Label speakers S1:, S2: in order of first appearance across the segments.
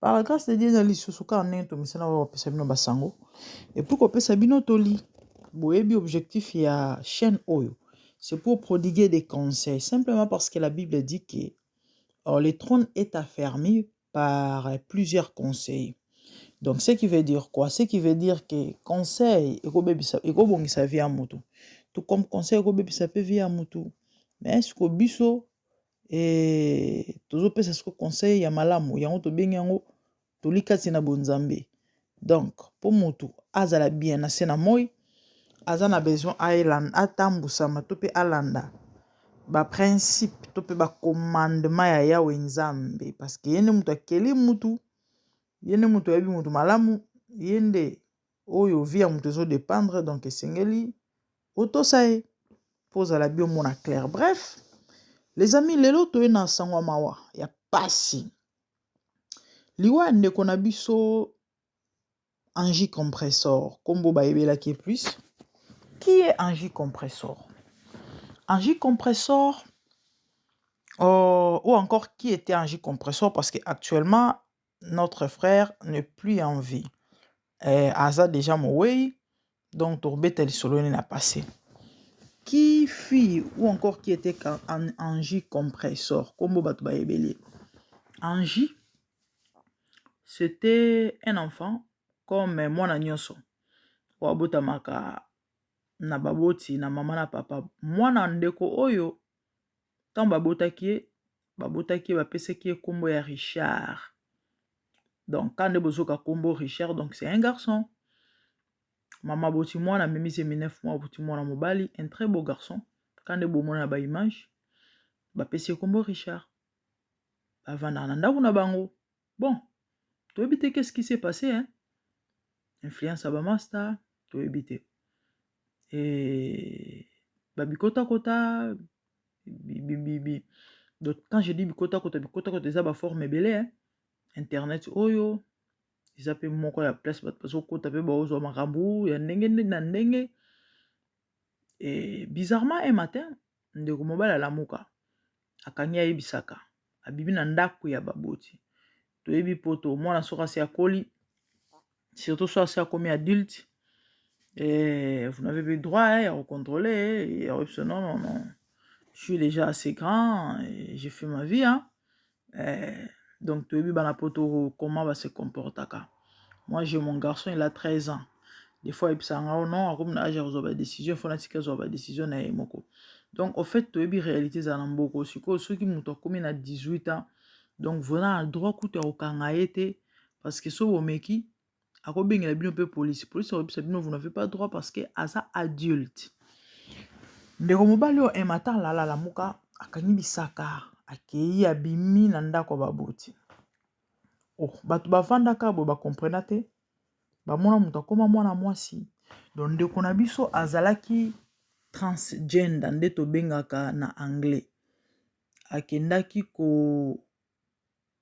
S1: Par la grâce de Dieu na lisusu kaka ndenge tomesana oyo kopesa bino basango et puis kopesa bino toli boyebi objectif ya chaîne oyo c'est pour prodiguer des conseils simplement parce que la Bible dit que alors, le trône est affermi par plusieurs conseils donc ce qui veut dire quoi ce qui veut dire que conseil ekobebisa ekobongisa vie ya motu tout comme conseil ekobebisa mpe vie ya motu mais siko biso Ee, tozopesa siko conseil ya malamu, yango tobengi yango toli kati na bonzambe. Donc, mpo motu azala bien na se na moi, aza na besoin atambusama to mpe alanda baprincipe to mpe bacommandement ya yawe nzambe parce que ye nde moto akeli motu ye nde moto ayebi moto malamu ye nde oyo vie ya moto ezo dependre donc esengeli otosa ye mpo ozala bi omona claire bref les amis lelo toye na sango ya mawa ya pasi liwa ya ndeko na biso angie compressor nkombo bayebelaki ye plus qui est angie compressor angie compressor euh, ou encore qui était angie compressor parce que actuellement notre frère ne plus en vie eh, aza deja mowei donc tokobeta lisolo ne na passé qui fille ou encore qui était en, en jus compressor kombo bato bayebeli en jus c'était un enfant comme mwana nyonso oyo abotamaka na baboti na mama na papa mwana ndeko oyo ntango babotaki ye babotaki ye bapesaki ye nkombo ya richard donc ka nde bozoka nkombo richard donc c'est un garçon mama boti mwana amemisi ye 9 mois boti mwana mobali un très beau garçon ka nde bomona na baimage bapesi ye nkombo richard bavandaka na ndako na bango bon toyebi te qu'est-ce qui s'est passé hein influence ya bamasta toyebi te e babikotakota bibibi donc quand je dis bikotakota bikotakota eza baforme ebele hein internet oyo eza mpe moko ya place bato bazokota mpe baozwa makambo ya ndenge na ndenge bizarrement un matin ndeko mobali alamuka akangi ayebisaka abibi na ndako ya baboti toyebi poto mwana soki asi akoli surtout so asi akomi adulte eh, vous n'avez plus droit eh, ya kocontrole ya koyebisa non non non je suis déjà assez grand j'ai fait ma vie hein. eh, donc toyebi bana poto comment ba se comportaka moi j'ai mon garçon il a 13 ans des fois ayebisaka ngao non akomi na age ya kozwa badécision fo natika zwa badécision na ye moko donc au fait toyebi réalité ezala na mboko sikoyo soki moto akomi na 18 ans donc voza na droit kutu ya kokanga ye te parce que so bomeki akobengela bino mpe polisi polisi akobisa bino vous n'avez pas droit parce que aza adulte ndeko mobali oyo ematan lala lamuka akangi bisaka akei abimi na ndako ya baboti oh, bato bafandaka boye bakomprena te bamona moto akoma mwana mwasi don ndeko na biso azalaki transgender nde tobengaka na anglais akendaki ko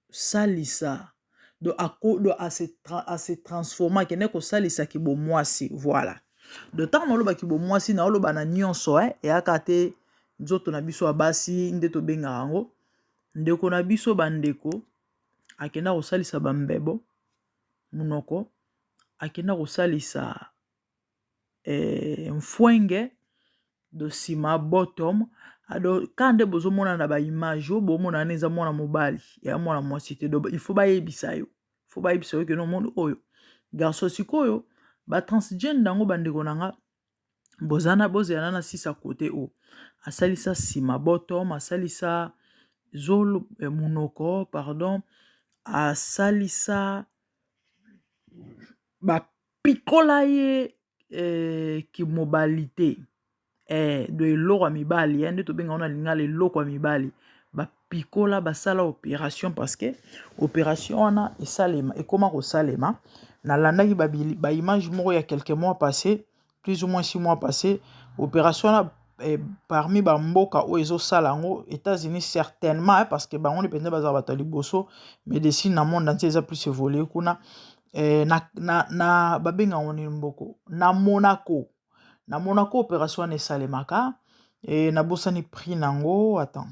S1: kosalisa donc ako donc à se transformer akende kosalisa kibomwasi voilà donc ntango naloba kibomwasi naoloba na nyonso e eyaka te nzoto na biso ya basi nde tobengaka yango ndeko na biso bandeko akenda kosalisa bambebo monoko akenda kosalisa nfuenge dosima bottom ado ka nde bozomona na ba image oyo bomona wana eza mwana mobali ya mwana mwasi te doba il faut bayebisa yo fo bayebisa yo keno moni oyo garso sikoyo ba transgene yango bandeko na nga bozana bozela na na sisa kote oyo asalisa nsima botom asalisa zolo monoko pardon asalisa ba Pikola ye eh, kimobalite eh, do eloko ya mibali eh, nde tobenga wana lingala eloko ya mibali bapikola basala operation parce que operation wana esalema ekoma kosalema nalandaki baimage ba moko ya quelques mois passé plus ou moins six mois passé operation wana eh, parmi bamboka oyo ezosala yango états-unis certainement eh, parce que bango nde mpenza bazala bato ya liboso médecine na monde entier eza plus évolue kuna eh, na, na, na babenga yango nini mboko na monaco na monaco opération wana esalemaka eh, nabosani prix na yango attends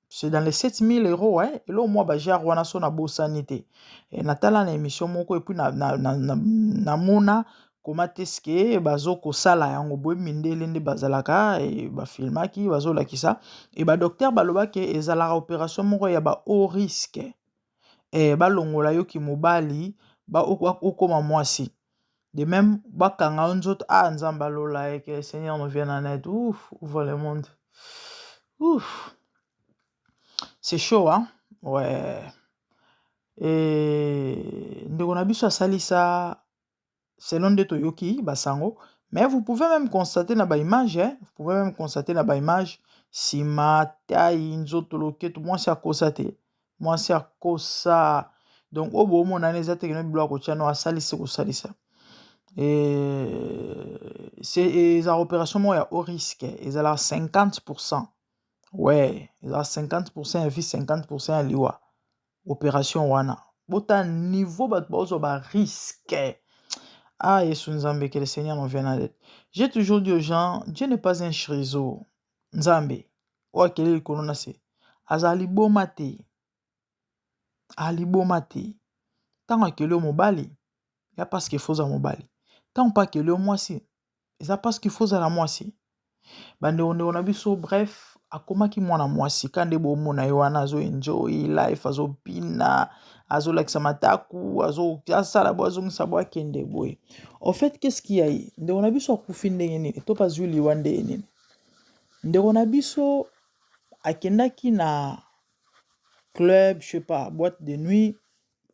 S1: c'est dans les 7000 euros hein? eloo mwa bajare wana so nabosani te eh, natala na émission moko epuis namona na, na, na, na koma te ske bazo kosala yango boye mindele nde bazalaka e, bafilmaki bazolakisa e badocteur balobaki ezalaka operation moko ya ba haut risque eh balongola yo ki mobali ba okoma mwasi de meme bakanga yo nzoto ah nzambe ya lola eh que le seigneur nous vienne en aide ouf ouvre le monde ouf c'est chaud hein ouais et ndeko na biso asalisa selon nde toyoki basango mais vous pouvez meme constate na ba image vous pouvez meme constate na ba image nsima tai nzoto loketo mwasi akosa te mwasi akosa donc oyo boomonana eza tekeno bilo ya kotya no asalisi kosalisa eza opération moko ya o risque ezalaka 50 pourcent we eza 50 pourcent ya vie 50 pourcent ya liwa operation wana bota niveau bato baozwa ba risque ah yesu nzambe que le seigneur nous vienne aide j'ai toujours dit aux gens dieu n'est pas un chrizo nzambe oyo akeli likolo na se azala liboma te aliboma te ntango akeli yo mobali ya parce que faut oza mobali ntango mpe akeli yo mwasi eza parce qu'il faut ozala mwasi ba ndeko ndeko na biso bref akomaki mwana mwasi ka nde bomona ye wana azo enjoy life azo bina azo lakisa mataku azo asala bo azongisa bo akende boye en fait qu'est-ce qui a ye ndeko na biso akufi ndenge nini to bazwi liwa ndenge nini ndeko na biso akendaki na club je sais pas boîte de nuit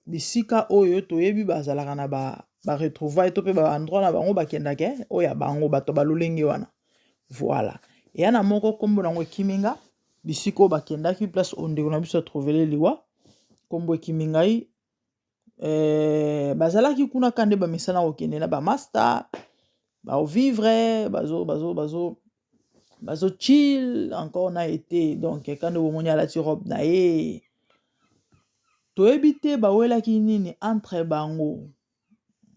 S1: bisika oyo toyebi bazalaka na ba ba retrouvailles to pe ba endroit na bango bakendaka eh, oyo ya bango bato ba lolenge wana voilà eya na moko nkombo nango ekimi nga bisika oyo bakendaki place oyo ndeko na biso atrouvele liwa nkombo ekimi ngai eh, bazalaki kuna ka nde bamesana kokende na bamasta baovivre bazo bazo bazo bazo chill encore na ete donc kande bomoni alati robe na ye toyebi te bawelaki nini entre bango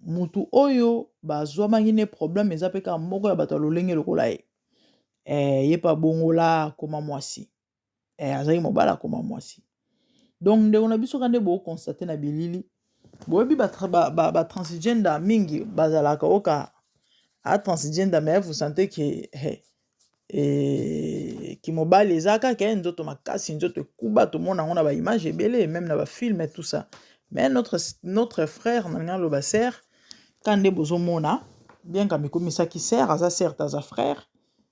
S1: mutu oyo bazwamaki ne problème eza mpe kaka moko ya bato ya lolenge lokola ye eh, ye mpe abongola akoma mwasi eh, azalaki mobali akoma mwasi donc ndeko na biso ka nde bookonstate na bilili boyebi batransgender ba, ba, ba mingi bazalaka oka atransgender mais vous sentez ke hey, eh, kimobali eza kaka eh, nzoto makasi nzoto ekuba tomona yango na baimage ebele meme na bafilme tout ça mais notre, notre frère nalingi aloba ser ka nde bozomona bien ka mikomisaki ser aza certes aza frère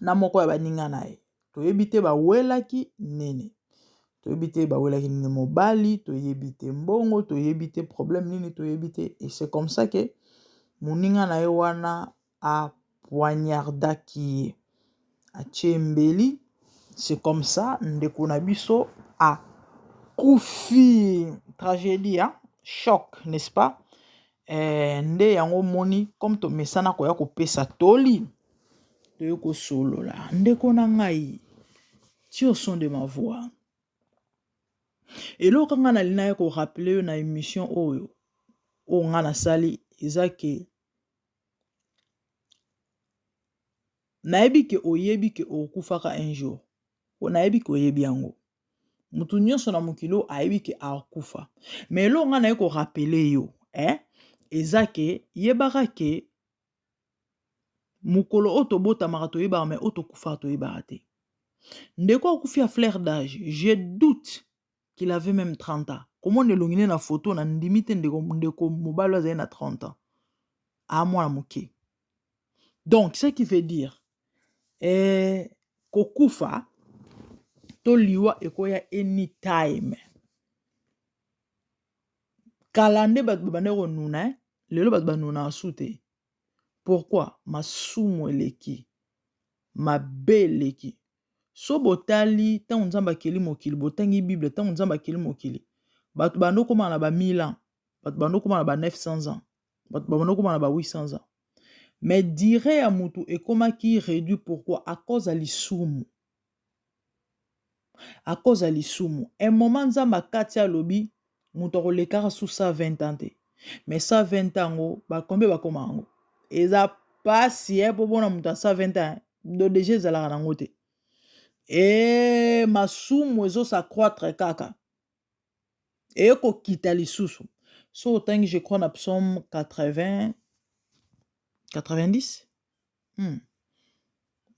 S1: na moko ya baninga na ye toyebi te bawelaki nini toyebi te bawelaki nini mobali toyebi te mbongo toyebi te problème nini toyebi te et c'est comme ça que moninga na ye wana apoignardaki ye atie mbeli c'est comme ça ndeko na biso akufi tragédie hein? choc n'est-ce pas Ee, nde yango omoni, comme tomesana koya kopesa toli, toye kosolola. Ndeko na ngai, tio son de ma voix. Eloko ngai nalinaki korapele yo na emission oyo, oyo ngai nasali, eza ke nayebi ke oyebi ke okufaka un jour, po nayebi ke oyebi yango. moto nyonso na mokili oyo ayebi ke akufa me eloko ngai naye korapele yo eh? eza ke yebaka ke mokolo oyo tobotamaka toyebaka me oyo tokufaka toyebaka te ndeko akufi ya flaire d'age je doute qu'il avait même 30 ans komona elongi ne na foto na ndimi te ndeko, ndeko mobali azali na 30 ans amwana moke donc ce qui veut dire eh, kokufa to liwa ekoya anytime kala nde bato babanda konuna eh? lelo bato banuna asu te pourkui masumu eleki mabe eleki so botali ntango nzambe akeli mokili botangi bible ntango nzambe akeli mokili bato banda okoma na ba 1000 ans bato banda okoma na ba 900 ans bato babanda okoma na ba 800 ans mais dire ya motu ekomaki réduit pourquoi à cause ya lisumu à cause ya lisumu un moment nzambe akati alobi moto akolekaka su 120 ans te mais 120 yango bakombe bakoma yango eza mpasi e mpo mpona moto ya 120 ans do deja ezalaka nango te e masumu ezosacroitre kaka eye kokita lisusu soki otangi je crois na psaume 80 90 hmm.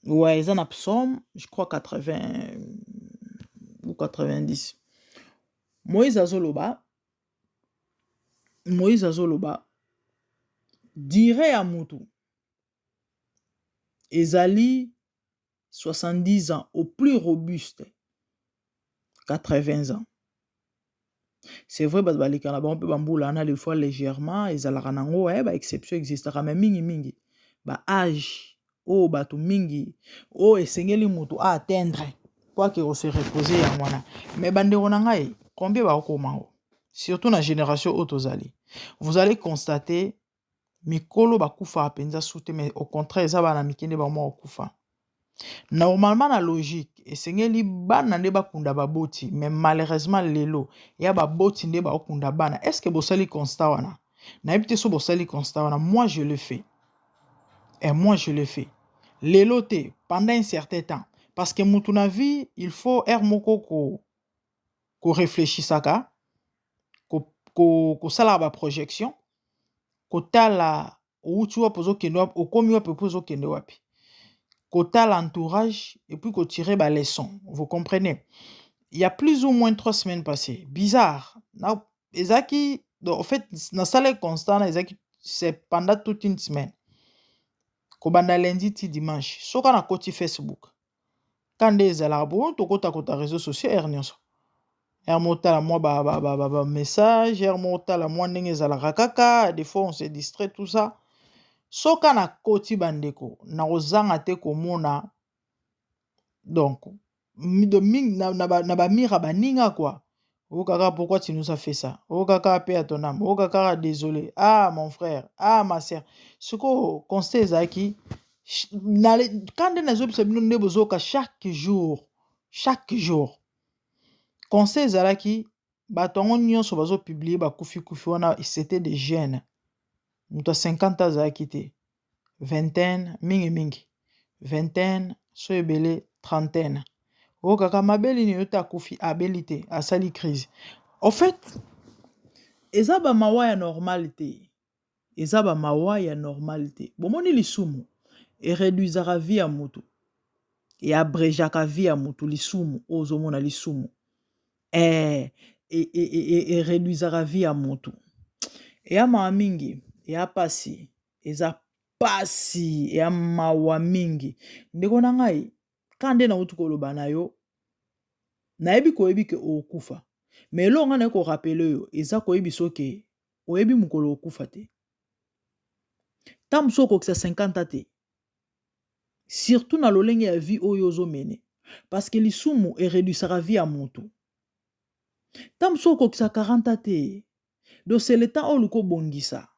S1: ouais eza na psaume je crois 80 ou 90 moïse azoloba moïse azoloba dire ya motu ezali 70 ans au plus robuste 80 ans c'est vrai bato baleka na bango mpe bambula wana des fois légèrement ezalaka nango e eh, baexception existaka mai mingimingi baage oyo oh, bato mingi oyo oh, esengeli moto aatteindre mpo ake kose repose yango wana mai bandeko na ngai combien bakokoma yango surtout na génération oyo tozali vous allez constater mikolo ba kufaka penza su te mais au contraire eza bana mike nde bango moko ba kufa. Normalement na logique esengeli bana nde ba kunda ba boti mais malheureusement lelo ya ba boti nde ba kunda bana. Est ce que bo sali constat wana? Na yebi te so bo sali constat wana moi je le fais. Et moi je le fais. Lelo te pendant un certain temps parce que mutu na vie il faut heure moko ko koreflechisaka kosalaka baprojection kotala owuti wapi ozokende wapi okomi wapi epuis ozokende wapi kotala entourage epuis kotire baleçon vous comprene ya plus ou moins trois semaines passe bizarre na ezalaki en fait nasala constant na ezalaki c'est pendant toute une semaine kobanda lundi ti dimanche soka na koti facebook Cas nde ezalaka po tokota kota reseau sociaux heure nionso heure moko otala mua ba ba ba ba message heure moko otala mua ndenge ezalaka kaka des fois on se distrait tout ça soki ka nakoti ba ndeko nakozanga te komona donc de mingi na ba mur ya baninga kua Oh kaka, pourquoi tu nous as fait ça? Oh kaka, paix à ton âme. Oh kaka, désolé. Ah mon frère, ah ma sœur. Ce qu'on constate ezalaki quand nde nazobisa bino nde bozoyoka chaque jour, chaque jour. Conseil ezalaki bato yango nyonso bazopiblie bakufikufi wana c'était des jeunes moto ya 50 ans azalaki te vingtaine mingi mingi vingtaine so ebele trentaine oyo kaka mabeli na yo te akufi abeli te asali crise en fait eza ba mawa ya normale te eza ba mawa ya normale te bomoni lisumu e reduisaka vie ya mutu e abrejaka vie ya mutu lisumu oyo ozomona lisumu ee e reduisaka vie ya mutu eya mawa mingi eya pasi. eza pasi ya mawa mingi ndeko na ngai ka nde nauti koloba na yo nayebi koyebi ke okokufa me eloko ngai naye korapele oyo eza koyebi soke oyebi mokolo okufa te ntango mosusu okokisa 50 te surtout na lolenge ya vie oyo ozomene parceke lisumu eredusaka vie ya motu ntango mosusu okokisa 40 te dosele temps oyo luka obongisa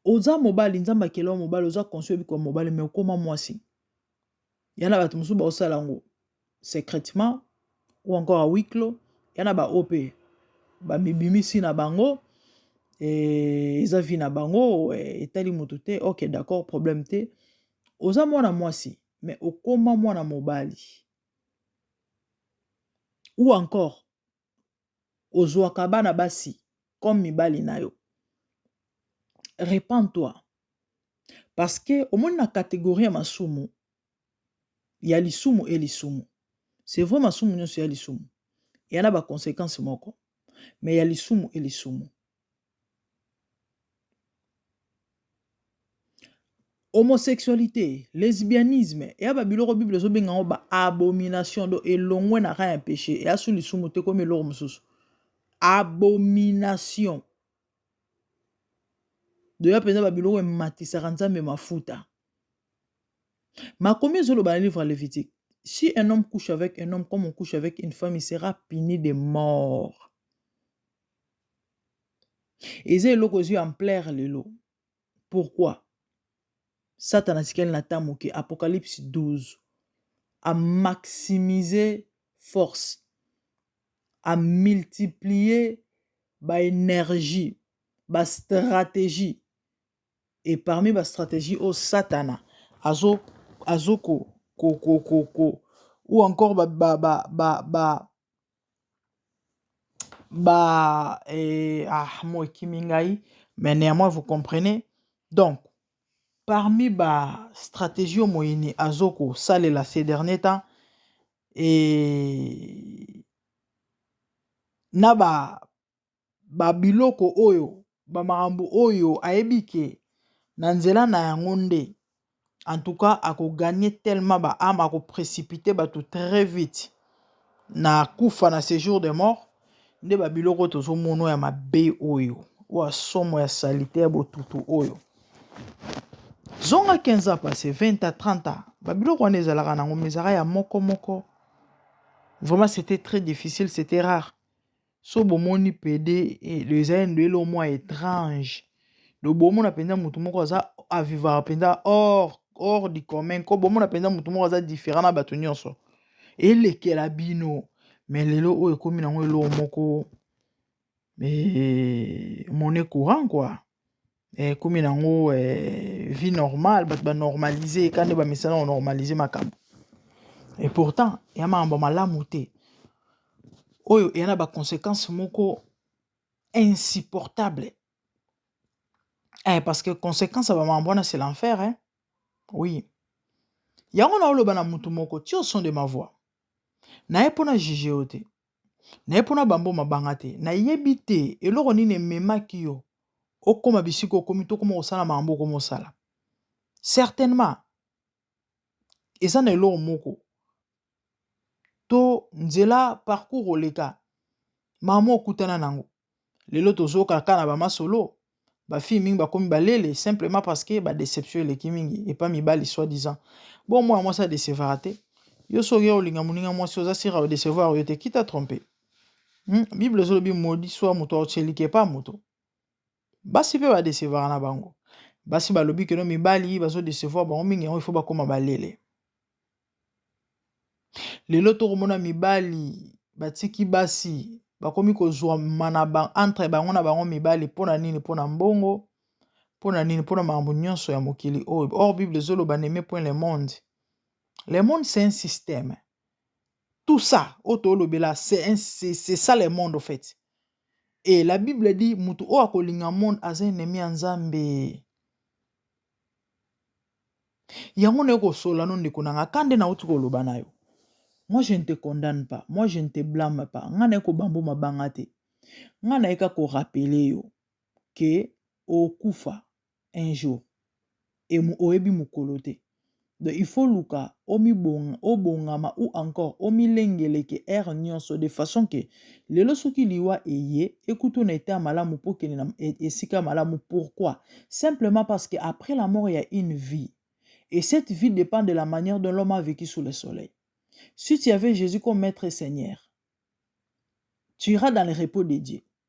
S1: oza mobali nzambe akela yo mobali oza consci oyebi koma mobali mai okoma mwasi ya na bato mosusu baosala yango secrètement ou encore a wiklo ya na baoyo mpe bamibimisi na bango eh, eza vi na bango eh, etali moto te ok d'accord problème te oza mwana mwasi mai okoma mwana mobali ou encore ozwaka bana basi comme mibali na yo repend toi parce que omoni na catégorie ya masumu ya lisumu e lisumu c'est vrai masumu nyonso ya lisumu eya na baconséquence moko mais ya lisumu e lisumu Homosexualite, lesbianisme eya ba biloko Bible ezobenga yango ba abomination donc elongwe na rang ya peche eya su lisumu te ekomi eloko mosusu abomination doya mpenza ba biloko ematisaka Nzambe mafuta makomi ezoloba na livre ya Levitique si un homme couche avec un homme comme on couche avec une femme il sera puni de mort Eza eloko ezui ampleur lelo pourquoi? Satana atikali na temps muke apocalypse 12 a maximiser force a multiplier ba energie ba strategie et parmi ba strategie oyo satana azo ko ou encore ba. ba eh, ah, moi kimingai mais néanmoins vous comprenez donc parmi ba stratégie moyini azoko salela ces derniers temps et na ba babiloko oyo bamakambo oyo ayebi ke na nzela na yango nde en tout cas ako gagne tellement ba ame ako precipite bato très vite na kufa na sejour de mort nde babiloko tozomono ya mabe oyo oyo asomo ya salite ya botutu oyo zonga 15 ans passé 20 à 30 ans babiloko wana ezalaka nango mizaka ya moko moko vraiment c'était très difficile c'était rare Soki bomoni pede eza endo elo mwa etrange do bomona mpenza motu moko aza avivaka mpenza or or du commun ko bomona mpenza motu moko aza different na bato nyonso elekela bino me lelo oyo ekomi nango eloo moko eh, mone courant kua eh, ekomi nango eh, vie normale bato banormalise eka nde bamesana konormalise makambo et pourtant ya makambo malamu te oyo eya na baconséquence moko insupportable eh, parce que conséquence ya bamakambo wana c'est l'enfer hein? oui yango naoloba na motu moko tio son de ma voix naye mpo na juge yo te Naye pona ba mboma banga te nayebi te eloko nini ememaki yo okoma bisika okomi to okoma kosala makambo okoma osala certainement eza na eloko moko to nzela parcours oleka makambo okutana na yango lelo tozokaka kaka na bamasolo bafille mingi bakomi balele simplement parce que badeception eleki mingi epa mibali soit disant bon mwana mwasi adecevaka te yo soki oya olinga moninga mwasi oza sira odecevoir yo te kita trompe hmm? bible ezolobi modi swa moto aotyelike epa moto basi mpe badecevaka na bango basi balobi keno mibali bazodecevoir bango mingi yango ifo bakóma balele Lelo to komona mibali ba tiki basi ba komi ko zwama na ba entre bango na bango mibali pona nini pona mbongo pona nini pona makambo nionso ya mokili oyo or bible ezo loba n'aimez point le monde le monde c'est un système tout ça oyo to lobela c'est un c'est ça le monde au fait et la bible dit mutu oyo ako linga monde aza ennemi ya Nzambe. yango naye kosola no ndeko nanga kande nauti koloba nayo moi je ne te condamne pas moi je ne te blame pas nga naye kobambo mabanga te nga naye ka korapele yo ke okufa un jour e oyebi mokolo te Donc il faut luka obongama ou encore omilengeleke heure nionso de façon que lelo soki liwa eye ekuta na etat malamu po kende na esika malamu pourquoi simplement parce que après la mort ya une vie et cette vie dépend de la manière dont l'homme a vécu sous le soleil si tu avais Jésus comme maître et seigneur tu iras dans le repos de Dieu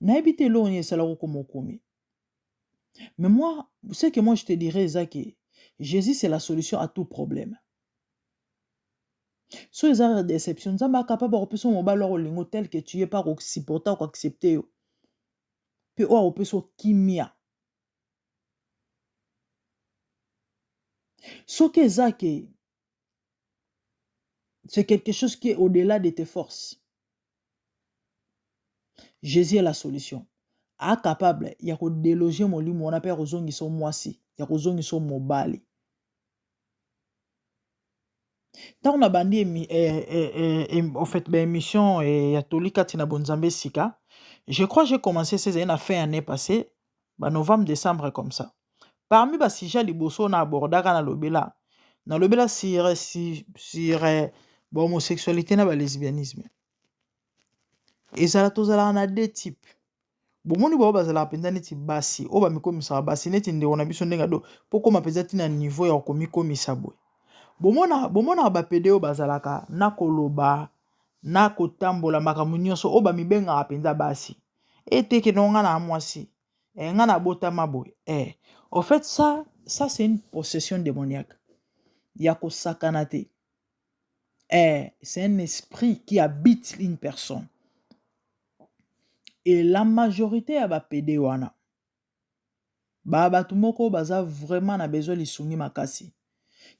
S1: nayebi te eloko nini esala kokoma okomi mais moi ce que moi je te dirais eza ke jésus c'est la solution à tout problème so eza na déception nzambe akapable akopesa yo mobali wako olingo tel que tu ye mpe akosupporte akoaccepte yo mpe oyo akopesa yo kimia soki eza ke C'est quelque chose qui est au-delà de tes forces. Jésus est la solution. A capable ya ko déloger molimo wana pe ya kozongisa yo mwasi, ya kozongisa yo mobali. Ntango nabandi emi- eh, eh, eh, em- en fait, ba émission eh, ya toli kati na bonzambe sika, je crois j'ai commencé ces années na fin année passée, ba novembre decembre comme ça parmi ba sujet liboso na abordaka na lobela na lobela sur sur eh, ba homosexualité na ba lesbianisme ezala tozalaka na deux type bomoni bao bazalaka mpenza neti basi oyo bamikomisaka basi neti ndeko na biso ndenge ado mpo koma mpenza ntina niveau ya komikomisa boye bomona bomonaka bapede oyo bazalaka na koloba na kotambola makambo nyonso oyo bamibengaka mpenza basi et te que non nga na mwasi eh, nga na botama boye eh. au fait ça ça c'est une possession démoniaque ya kosakana te eh, c'est un esprit qui habite une personne et la majorité ya bapede wana ba bato moko baza vraiment na besoin lisungi makasi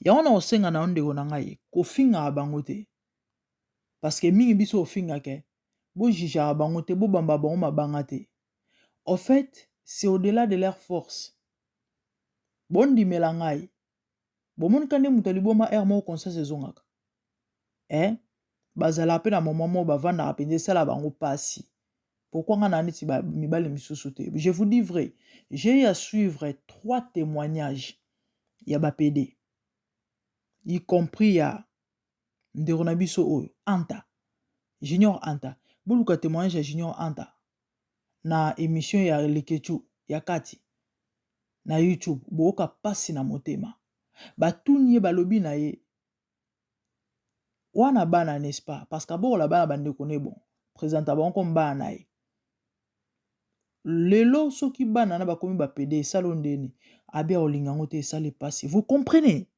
S1: yango na kosenga na yo ndeko na ngai kofingaka bango te parce que mingi biso ofingaka bo jugeaka bango te bo bambaka bango mabanga te au fait c'est au delà de leur force bondimela ngai bomonika nde moto ya liboma heure moko conscience ezongaka eh bazalaka mpe na moment moko bavandaka mpenza esala bango mpasi pourquoi ngai na neti mibali misusu te je vous dis vrai j'ai eu à suivre trois témoignages ya bapede y compris ya ndeko na biso oyo anta junior anta boluka témoignage ya junior anta na émission ya lekechu ya kati na youtube booka mpasi na motema batuni ye balobi na ye wana bana n'est-ce pas parce que abokola bana bandeko ne bon présenta bango comme bana na ye lelo soki bana na bakomi bapede esala ndeni abi akolinga yango te esali mpasi vous comprenez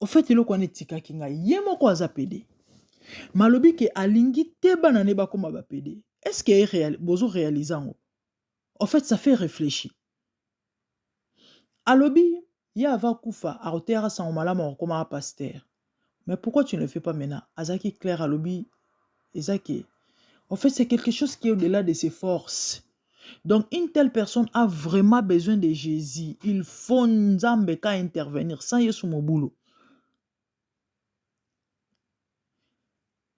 S1: au fait eloko wana etikaki ngai ye moko aza pede malobi ke alingi te bana ne bakoma bapede est ce que bozo réalise yango au fait ça fait réfléchir alobi ye ava kufa akoteyaka sango malamu akokomaka pasteur mais pourquoi tu ne le fais pas maintenant azalaki claire alobi eza ke en fait c'est quelque chose qui est au delà de ses forces Donc une telle personne a vraiment besoin de Jesus. Il faut Nzambe ka intervenir sans Yesu mobulu.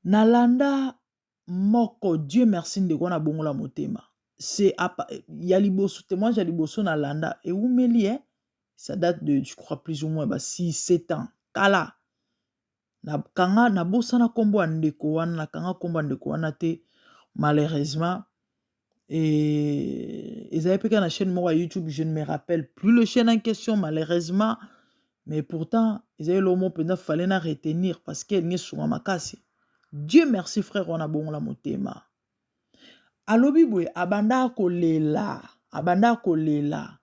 S1: Nalanda moko Dieu merci ndeko na bongola motema. C'est ya liboso témoignage ya liboso nalanda ewumeli eh? Ça date de je crois plus ou moins ba 6 7 ans. Kala Na kanga na bosana kombo ya ndeko wana na kanga kombo ya ndeko wana te malheureusement et ezali mpe kaka na chaîne moko ya youtube je ne me rappelle plus le chaîne en question malheureusement mais pourtant ezali eloko moko mpenza fale na retenir parce que elingi esunga makasi dieu merci frère wana abongola motema alobi boye abandaka kolela abandaka kolela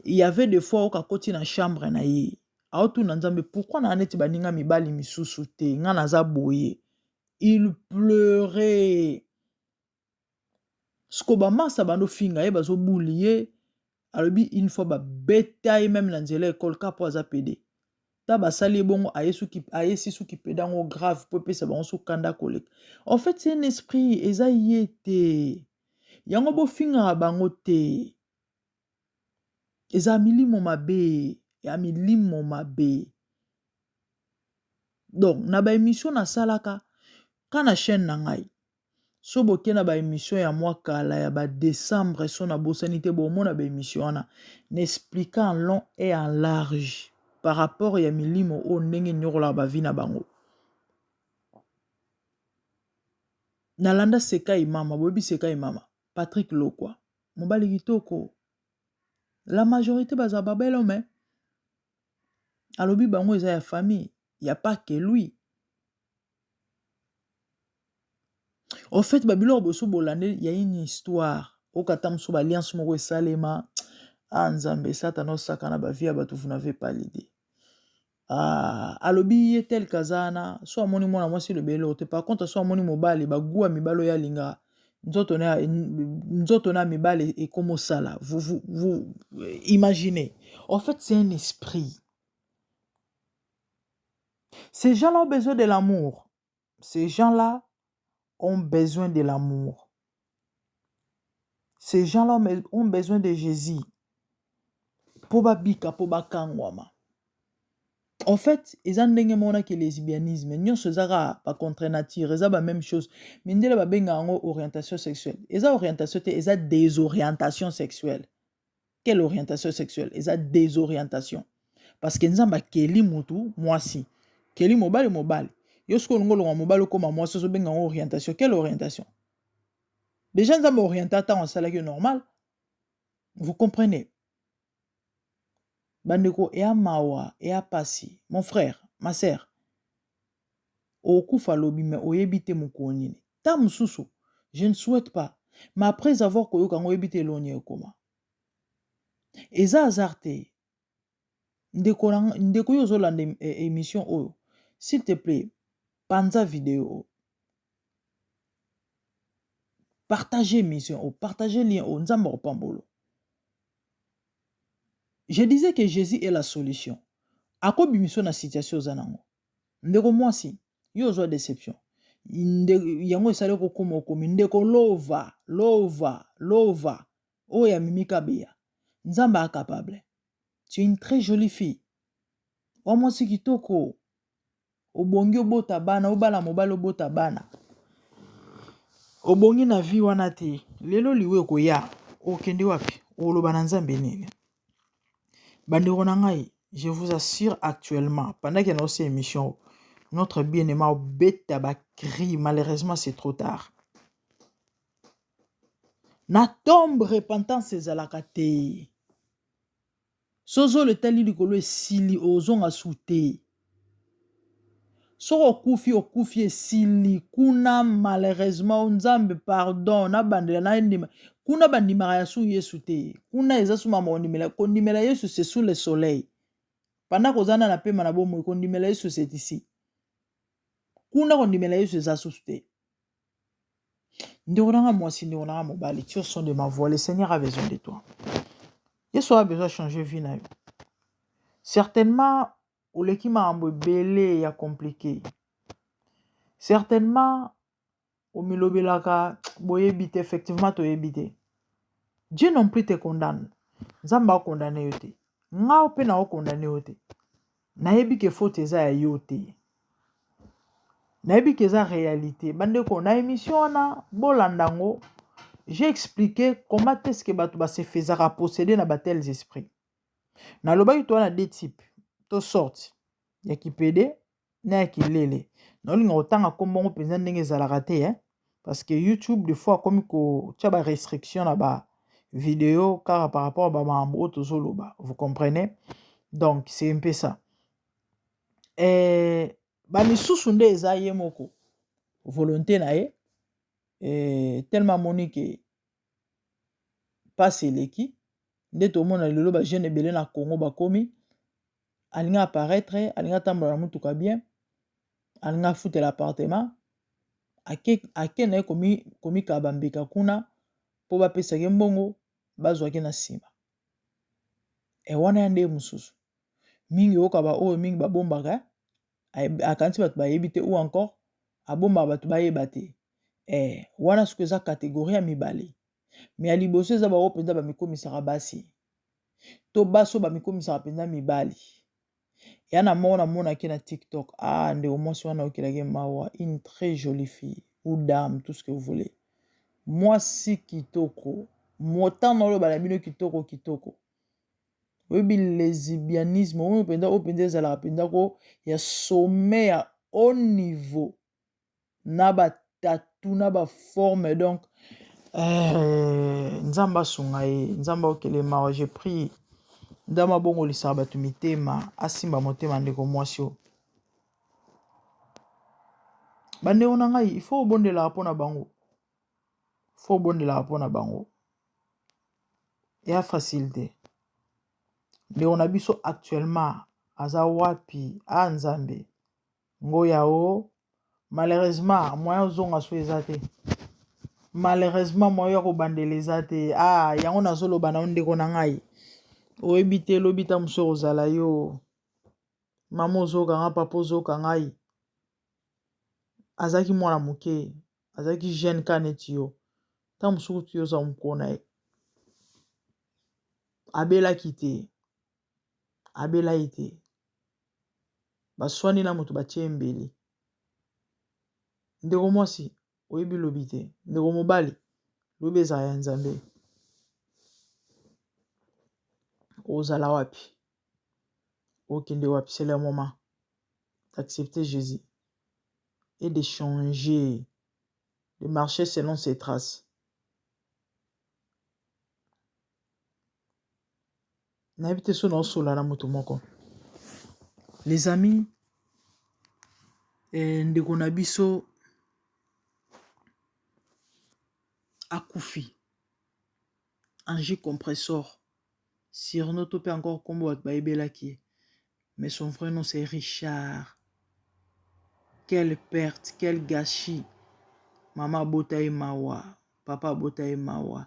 S1: y avait de fois oka koti na chambre na ye aotuna nzambe pourkui naa neti baninga mibali misusu te ngai naza boye il pleure siko bamasa bando finga ye bazobuli ye alobi une fois babeta ye meme na nzela ekole ka mpo aza pede ta basali ye bongo ayesi suki pede yango grave mpo epesa bango su kanda koleka en fait c'est un esprit eza ye te yango bofingaka bango te eza milimo mabe ya milimo mabe donc na baémission nasalaka ka na chaîne na ngai Soki boke na ba emission ya mwa kala ya ba decembre soki na bosani te bomona ba emission wana na expliqua en long et en large par rapport ya milimo oyo ndenge eniokolaka ba vie na bango. Nalanda Sekai mama, boyebi Sekai mama? Patrick Lokwa, mobali kitoko. La majorite baza ba bel homme. Alobi bango eza ya famille, ya pas que lui. Au fait ba biloko boso bolande ya une histoire oyoka ata mosusu ba alliance moko esalema ah nzambe satana osakana ba vie ya bato vous n'avez pas l'idee ah, alobi ye tel kaza wana so amoni mwana mwasi elobeli eloko te par contre so amoni mobali baguwa mibali oyo alinga nzoto na ya- nzoto na mibali ekoma osala vous, vous, vous imaginez en fait c'est un esprit Ces gens là ont besoin de l'amour. Ces gens là ont besoin de l'amour. Ces gens là ont besoin de Jésus. Po ba bika po ba kangwama. En fait, eza ndenge mona ke lesbianisme, nyonso eza kaka ba contre nature, eza ba même chose. Mindele ba benga yango orientation sexuelle. Eza orientation te, eza desorientation sexuelle. Quelle orientation sexuelle eza desorientation parce que nzambe akeli mutu mwasi keli mobali mobali yo soki olingi olonga mobali okoma mwasi ozobenga yango orientation quelle orientation déjà nzambe orienta ntango asalaki yo normal vous comprenez bandeko eya mawa eya pasi mon frère ma sœur Okokufa lobi mais oyebi te mokolo nini. Tango mosusu, je ne souhaite pas, mais après avoir koyoka yango oyebi te elongi ekoma. Eza hasard te. Ndeko na nga, ndeko yo ozolanda em- e- emission oyo, s'il te plaît, panza video oyo. Partage emission oyo, partage lien oyo, Nzambe akopambola yo. Je disais que Jesus est la solution. Akobimisa yo na situation oza na yango. Ndeko mwasi, yo ozwa deception. Yango esali okokoma okomi ndeko lova lova lova oyo ya mimi kabeya nzambe a capable tu es une très jolie fille wa mwasi kitoko obongi obota bana obala mobali obota bana obongi na vie wana te lelo liwa ekoya okende wapi oloba na nzambe nini Bandeko na ngai je vous assure actuellement pendant que naosi émission notre bien aima obeta ba cri malheureusement c'est trop tard na tombe repentance ezalaka te sozolo etali likolo esili ozonga su te soki okufi okufi esili kuna malheureusement o nzambe pardon nabandela nandima kuna bandimaka ya su yesu te kuna eza su mama kondimela kondimela yesu se sous le soleil panda koza na na pema na bomoi kondimela yesu setisi kuna kondimela yesu eza susu te ndeko nanga mwasi ndeko nanga mobali tio son de ma voix le seigneur a besoin de toi yesu a besoin changer vie na yo certainement oleki makambo ebele ya compliqué certainement omilobelaka boyebi te effectivement toyebi te dieu non plus te condamne nzambe akondane yo te ngai mpe naokondane yo te Nayebi ke faute eza ya yo te. Nayebi ke eza realite. Bandeko na emission wana bolanda yango. J'ai expliqué comment est-ce que bato ba se faisaka posséder na ba tels esprits. Nalobaki toza na deux types to sorte ya kipede na ya kilele. Naolinga kotanga kombo yango mpenza ndenge ezalaka te eh. parce que youtube de fois akomi kotia ba restriction na ba video kaka par rapport ba makambo oyo tozoloba vous comprenez donc c'est un peu ça eh, bamisusu nde eza ye moko volonté na ye eh, tellement amoni ke mpasi eleki nde tomona lelo bajeune ebele na congo bakomi alingi aparaitre alingi atambola na motuka bien alingi afutela apartema ake na ye komikaba bambeka kuna mpo bapesaki mbongo bazwaki na nsima e wana ya ndeye mosusu mingi oyoka baoyo mingi babombaka akanisi bato bayebi te ou encore abombaka bato bayeba te e wana soki eza kategorie ya mibale me ya liboso eza baoyo mpenza bamikomisaka basi to basi oyo bamikomisaka mpenza mibali ya na moko namonaki na tiktok ah ndeko mwasi wana okelaki mawa une très jolie fille ou dame tout ce que vous voulez mwasi kitoko motana oyo bana bino kitoko kitoko oyebi lesibianisme oyo mpenza oyo mpenza ezalaka mpenza ko ya sommet ya haut niveau na ba tatu na ba forme donc euh, nzambe asunga ye nzambe okele mawa je prie nzambe abongolisaka bato mitema asimba motema ndeko mwasi oyo bandeko na ngai ifo obondelaka mpo na bango fo obondelaka mpo na bango ya facile te ndeko na biso actuellement aza wapi a ah, nzambe Ngoya o malheureusement moyen ozonga so eza te malheureusement moyen ya kobandela eza te ah yango nazoloba na yo ndeko na ngai oyebi te lobi ntango mosusu ekozala yo mama ozoka nga papa ozoka ngai azalaki mwana moke azalaki jeune ka neti yo ntango mosusu kutu yo oza mokona ye abelaki te abela ye te baswani na moto batie ye mbeli ndeko mwasi oyebi lobi te ndeko mobali lobi ezala ya nzambe ozala wapi okende wapi c'est le moment d'accepter jésus et de changer de marcher selon ses traces nayebi te so naosolola na moto moko les amis eh, ndeko na biso akufi ange compressor surno to mpe encore nkombo bato bayebelaki ye mais son vrai nom c'est richard quelle perte quel gâchis mama abota ye mawa papa abota ye mawa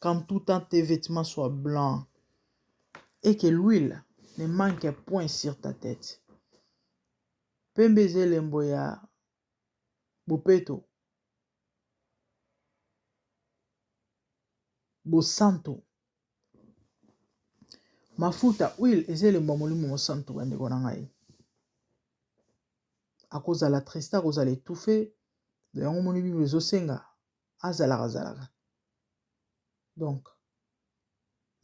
S1: quand tout temps tes vetements soient blancs et que l'huile ne manque point sur ta tete pembe eza elembo ya bopeto bosantu mafuta huile eza elembo ya molimo mosantu bandeko na ngai akozala triste akozala etufe yango moni bible ezosenga azalaka zalaka donc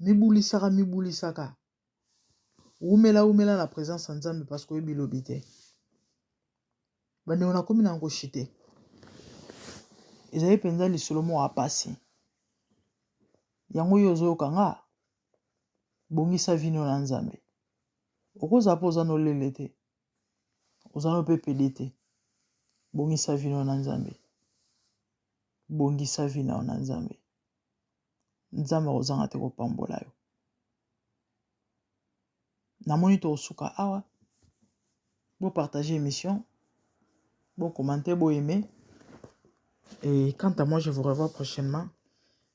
S1: mibulisaka mibulisaka wumela wumela na présence ya nzambe parce que oyebi lobi te bandeko nakomi na ngoshi te ezali mpenza lisolo moko ya mpasi yango oyo ozoyoka nga bongisa vino na nzambe okozala mpo oza nolele te oza no mpe pede te bongisa vino na nzambe bongisa vino na nzambe nzambe akozanga te kopambola yo namoni tokosuka awa bopartage émission bokomante boyeme et quant à moi je vous revois prochainement